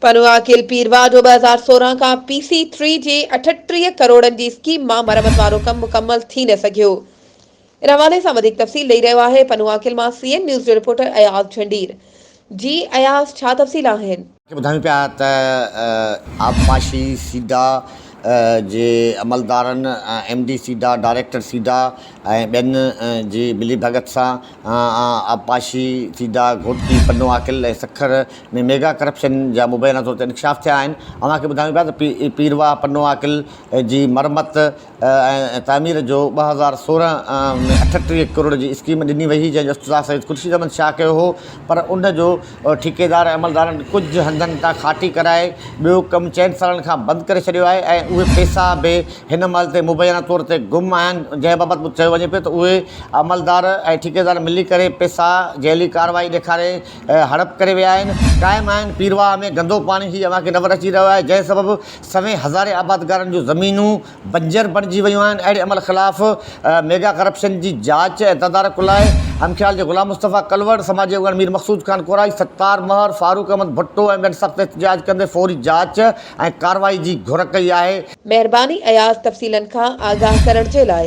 پنواکيل پير واڍو ٻه هزار سورهن کان پي سي ٿري جي اٺٽيهه ڪروڙن جي اسڪيم مان مرمت وارو ڪم مڪمل ٿي نه سگهيو ان حوالي سان وڌيڪ تفصيل ڏئي رهيو آهي پنواکيل مان سي اين نيوز جو رپورٽر اياز جهنڊير جي اياز ڇا تفصيل آهن. کي ٻڌايون پيا ته آبپاشي سيڊا جي عملدارن M D SIDA, director SIDA ۽ ٻين جي ملي ڀڳت سان آبپاشي، SIDA, Ghotki, Pano Aqil ۽ Sukkur ۾ mega corruption جا مبينا طور تي انڪشاف ٿيا آهن. اوهان کي ٻڌايون پيا ته پيرواهه پنو عاقل جي مرمت ۽ تعمير جو ٻه هزار سورهن ۾ اٺٽيهه ڪروڙ جي اسڪيم ڏني وئي هئي جنهن جو افتتاح سيد خورشيد احمد شاهه ڪيو هو پر ان جو ٺيڪيدار ۽ عملدارن ڪجهه هنڌن تان کاٽي ڪرائي ٻيو ڪم چئن سالن کان بند ڪري ڇڏيو آهي ۽ اهي پئسا به هن مهل تي مبينا طور تي گم آهن جنهن بابت مون چيو وڃي پيو ته اهي عملدار ۽ ٺيڪيدار ملي ڪري پئسا جعلي ڪارروائي ڏيکاري هڙپ ڪري ويا آهن. قائم آهن پيرواهه ۾ گندو پاڻي هي اوهان کي نظر اچي رهيو آهي جنهن سبب سوين هزارين آبادگارن جون زمينون بنجر بڻجي ويون آهن اهڙي عمل خلاف ميگا ڪرپشن جي جاچ ۽ تدارڪ لاء همخيال جي غلام مصطفيٰ ڪلوڙ، سماجي اڳواڻ مير مقصود خان ڪورائي، ستار مهر، فاروق احمد ڀٽو ۽ ٻين سخت احتجاج ڪندي فوري جاچ ۽ ڪارروائي جي گهر ڪئي آهي. مهرباني اياز تفصيلن کان آگاهه ڪرڻ جي لاء.